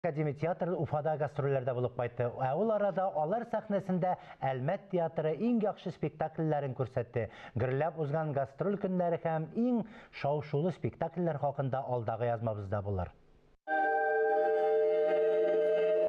Академия театры Уфада гастрольләрдә булып кайтты, ә ул арада алар сәхнәсендә Әлмәт театры иң яхшы спектакльләрен күрсәтте. Гөрләп узган гастроль көннәре һәм иң шау-шулы спектакльләр хакында алдагы язмабызда булыр.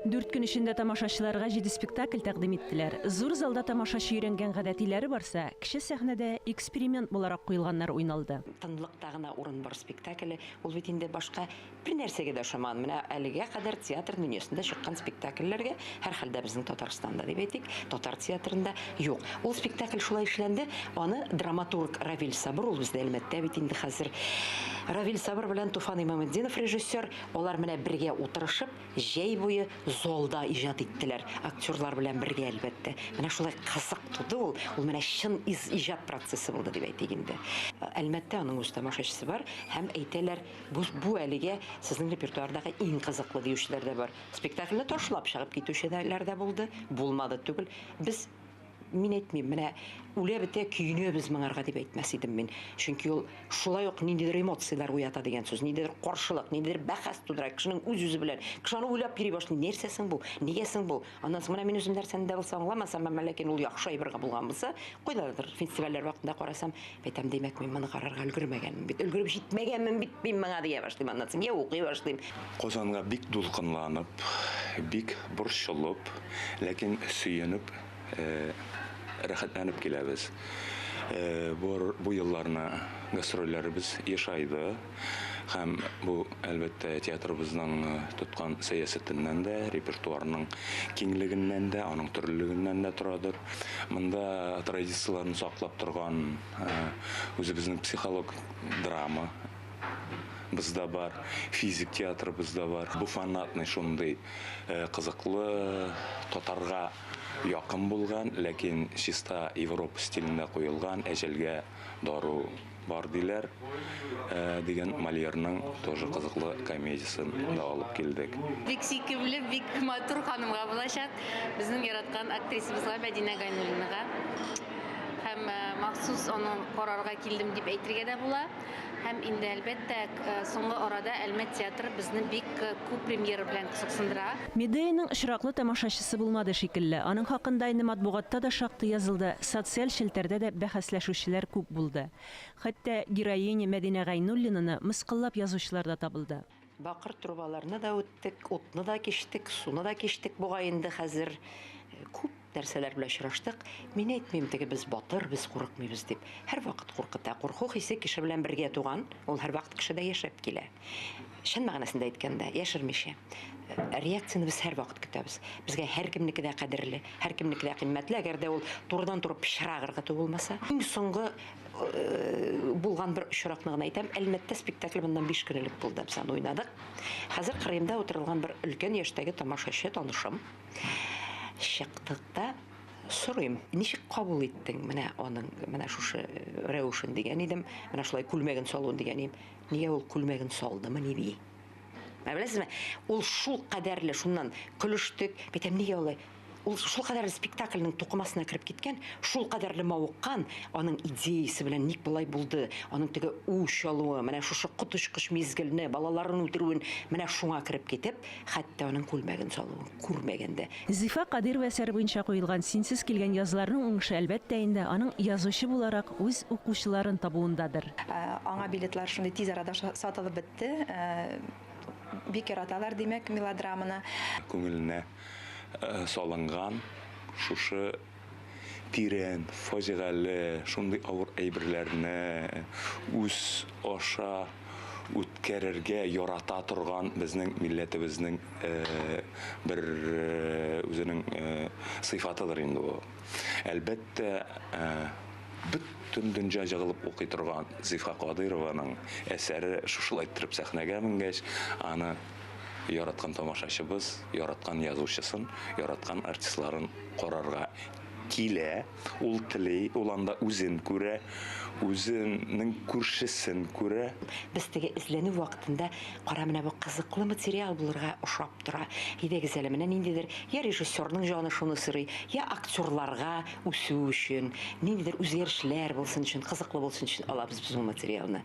Дүрт көн эчендә тамашачыларга җиде спектакль тәкъдим иттеләр. Зур залда тамашачы өйрәнгән гадәтиләре барса, кече сәхнәдә эксперимент буларак куелганнар уйналды. Тынлыкта гына урын бар спектакле, ул бит инде башка Бернәрсәгә дә ошамадым. Менә әлегә кадәр театр дөньясында чыккан спектакльләргә, һәрхәлдә безнең Татарстанда дип әйтик, татар театрында юк. Ул спектакль шулай эшләнде, аны драматург Равил Сабыр, ул бездә Әлмәттә бит инде хәзер. Равил Сабыр белән Туфан Имаметдинов режиссер, алар менә бергә утырышып, җәй буе залда иҗат иттеләр. Актерлар белән бергә, әлбәттә. Менә шулай кызык туды ул. Ул менә чын иҗат процессы булды дип әйтик инде. Әлмәттә аның үз тамашачысы бар һәм әйтәләр, Бу бу әлегә сезнең репертуардагы иң кызыклы диючеләр дә бар. Спектакльне ташлап чыгып китүчеләр дә булды. Булмады түгел. Без мин әйтмим, менә үлә бетә көенәбез моңарга дип әйтмәс идем мин. Чөнки ул шулай ук ниндидер эмоцияләр уята дигән сүз, ниндидер каршылык, ниндидер бәхәс тудыра, кешенең үз-үзе белән. Кеше аны уйлап йөри башлый, нәрсә соң бу, нигә соң бу? Аннан соң менә мин үзем нәрсәне дә булса аңламасам, әмма ләкин ул яхшы әйбергә булган булса, кайдадыр фестивальләр вакытында карасам, әйтәм, димәк, мин моны карарга өлгермәгәнмен бит, өлгереп җитмәгәнмен бит мин моңа дия башлыйм, аннан соң я укый башлыйм. Казанга бик дулкынланып, бик борчылып, ләкин сөенеп, рәхәтләнеп киләбез. Бу елларны гастрольләребез ешайды. Һәм бу, әлбәттә, театрыбызның тоткан сәясәтеннән дә, репертуарының киңлегеннән дә, аның төрлелегеннән дә торадыр. Монда традицияләрне саклап торган үзебезнең психолог драма без дә бар, физик театрыбыз да бар. Бу фанатный шундый кызыклы, татарга якын булган, ләкин чиста Европа стилендә куелган әҗәлгә дару Бар диләр, ә дигән Мольерның тоже кызыклы комедиясен да алып килдек. Бик сөйкемле, бик матур ханымга булачак. Безнең яраткан актрисабызга Мәдинә Гайнуллинага. Һәм махсус аны карарга килдем дип әйтергә дә була. Һәм инде әлбәттә, соңгы арада Әлмәт театры безне бик күп премьера белән кызыксындыра. Медеяның очраклы тамашачысы булмады шикелле. Аның хакында инде матбугатта да шактый язылды, социаль челтәрдә дә бәхәсләшүчеләр күп булды. Хәтта героиня Мәдинә Гайнуллинаны мыскыллап язучылар да табылды. Бакыр трубаларны да үттек, утны да кичтек, суны да кичтек, бугай инде хәзер күп Нәрсәләр белән очраштык? Мин әйтмим, теге без батыр, без курыкмыйбыз дип. Һәрвакыт куркыта. Курку хисе кеше белән бергә туган, ул һәрвакыт кешедә яшәп килә. Чын мәгънәсендә әйткәндә, яшермичә. Реакцияне без һәрвакыт көтәбез. Безгә һәркемнеке дә кадерле, һәркемнеке дә кыйммәтле, әгәр дә ул турыдан-туры пычрак ыргыту булмаса. Иң соңгы булган бер очракны гына әйтәм. Әлмәттә спектакль моннан биш көн элек булды. Без аны уйнадык. Хәзер кырыемда утырылган бер өлкән яшьтәге тамашачы, танышым. Чыктык та сорыйм, ничек кабул иттең менә аның менә шушы рәвешен дигән идем, менә шулай күлмәген салуын дигән идем. Нигә ул күлмәген салдымы ни ди? Ә беләсезме, ул шул кадәрле шуннан көлештек, бәйтәм нигә алай? Ул шул кадәрле спектакльнең тукымасына кереп киткән, шул кадәрле мавыккан, аның идеясе белән ник болай булды, аның теге үч алуы, менә шушы коточкыч мизгелне, балаларын үтерүен, менә шуңа кереп китеп, Хәтта аның күлмәген салуын күрмәгән дә. Зифа Кадыйрова әсәре буенча куелган Синсез килгән язларның уңышы, әлбәттә инде, аның язучы буларак үз укучыларын табуындадыр. Аңа билетлар шундый тиз арада сатылып бетте. Бик яраталар, димәк, мелодраманы. Күңеленә салынган шушы. тирән, фаҗигале, шундый авыр әйберләрне үз аша үткәрергә ярата торган безнең милләтебезнең бер үзенең сыйфатыдыр инде бу. Әлбәттә, бөтен дөнҗа җыгылып укый торган Зифа Кадыйрованың әсәре шушылай иттереп сәхнәгә менгәч, аны яраткан тамашачыбыз яраткан язучысын, яраткан артистларын карарга килә, ул тели, ул анда үзен күрә, үзенең күршесен күрә. Без теге эзләнү вакытында, кара, менә бу кызыклы материал булырга ошап тора, әйдәгез әле, менә ниндидер йә режиссерның җаны шуны сорый, йә актерларга үсү өчен, ниндидер үзгәрешләр булсын өчен, кызыклы булсын өчен алабыз без бу материалны.